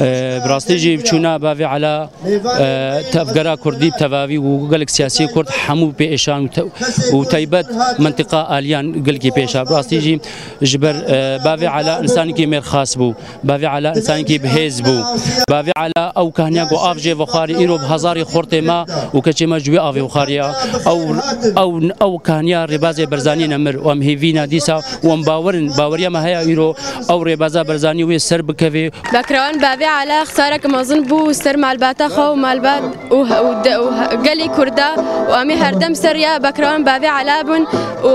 Bi rastî jî çûna bavê Ela tevgera Kurdî bi tevavî û gelek siyasî Kurd hemû pê êşan û taybet mintiqa aliyan gelkî pê êşa. Bi rastî jî ji ber bavê Ela insanekî mêrxas bû. Bavê Ela insanekî bi hêz bû. Bavê Ela ew kehniya ku av jê vexwarî îro bi hezarî xortê me û keçê me ji wî avê vexwariya. Ew ew kehniya Rêbazê Berzanî ne mir û em hêvî ne dîsa û em bawer in baweriya me heye îro ew rêbeza Barzanî wê ser bikevê û Bekrewan bavê Ala xtarek mezin bû ser malbata xwe û malbat û gelê Kurda û em ê herdem ser rêya Bekrewan bavê Ala bin û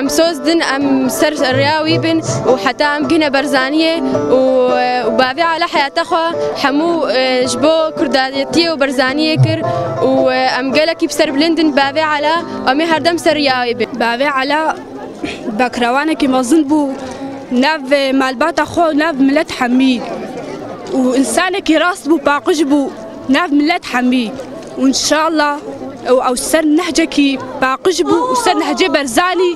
em soz din em ser rêya wî bin û heta em bigihne Barzaniyê û bavê Ala heyata xwe hemû ji bo Kurdayetiyê û Barzaniyê kir û em gelekî bi ser bilind in bavê Ala û em ê herdem ser rêya wê bin. Bavê Ala Bekrawanekî mezin bû nav malbata xwe û nav milet hemî û însanekî rast bû paqij bû nav milet hemî û inşalla ew ew ser nehcekî paqij bû û ser nehcê Berzanî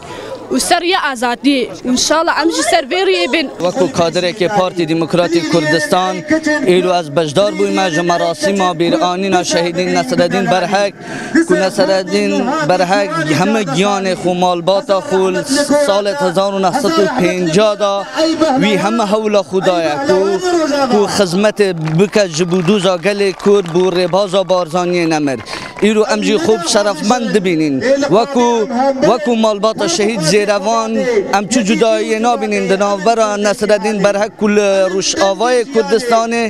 û ser rêya azadiyê û inşalla em jî ser vê rêyê bên. Wekî kadirekê Partî Demokratîk Kurdistan îro ez beşdar bûyme ji merasîma bîranîna şehîdî Nesredîn Berhek. Ku Nesereddîn Berhek heme giyanê xwe, malbata xwe li salê hezar û neh sed û pêncah de wî heme hewla xwe daye ku ku xizmetê bike ji bo doza gelê Kurd bo rêbaza Barzaniyê nemir. Îro em jî xwe şerefmend dibînîn. Wekû wekû malbata şehîd Zêrevan em çi cudayiyê nabînîn di navbera Nesereddîn Berhek ku li Rojavayê Kurdistanê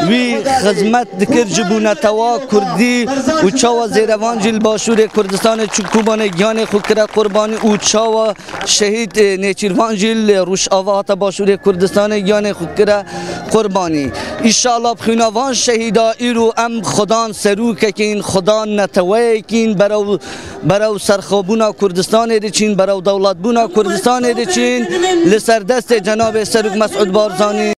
wî xizmet dikir ji bo netewa Kurdî, û çawa zêrevan jî li Başûrê Kurdistanê çû Kobanê giyanê xwe kire qurbanî û çawa şehîd Nêçîrvan jî li Rojava hate Başûrê Kurdistanê giyanê xwe kire qurbanî. Înşala bi xwîna van şehîda îro em xwedan serokekîn, xwedan neteweyekîn berew berew serxwebûna Kurdistanê diçîn, berew dewletbûna Kurdistanê diçîn li ser destê cenabê Serok Mesûd Barzanî.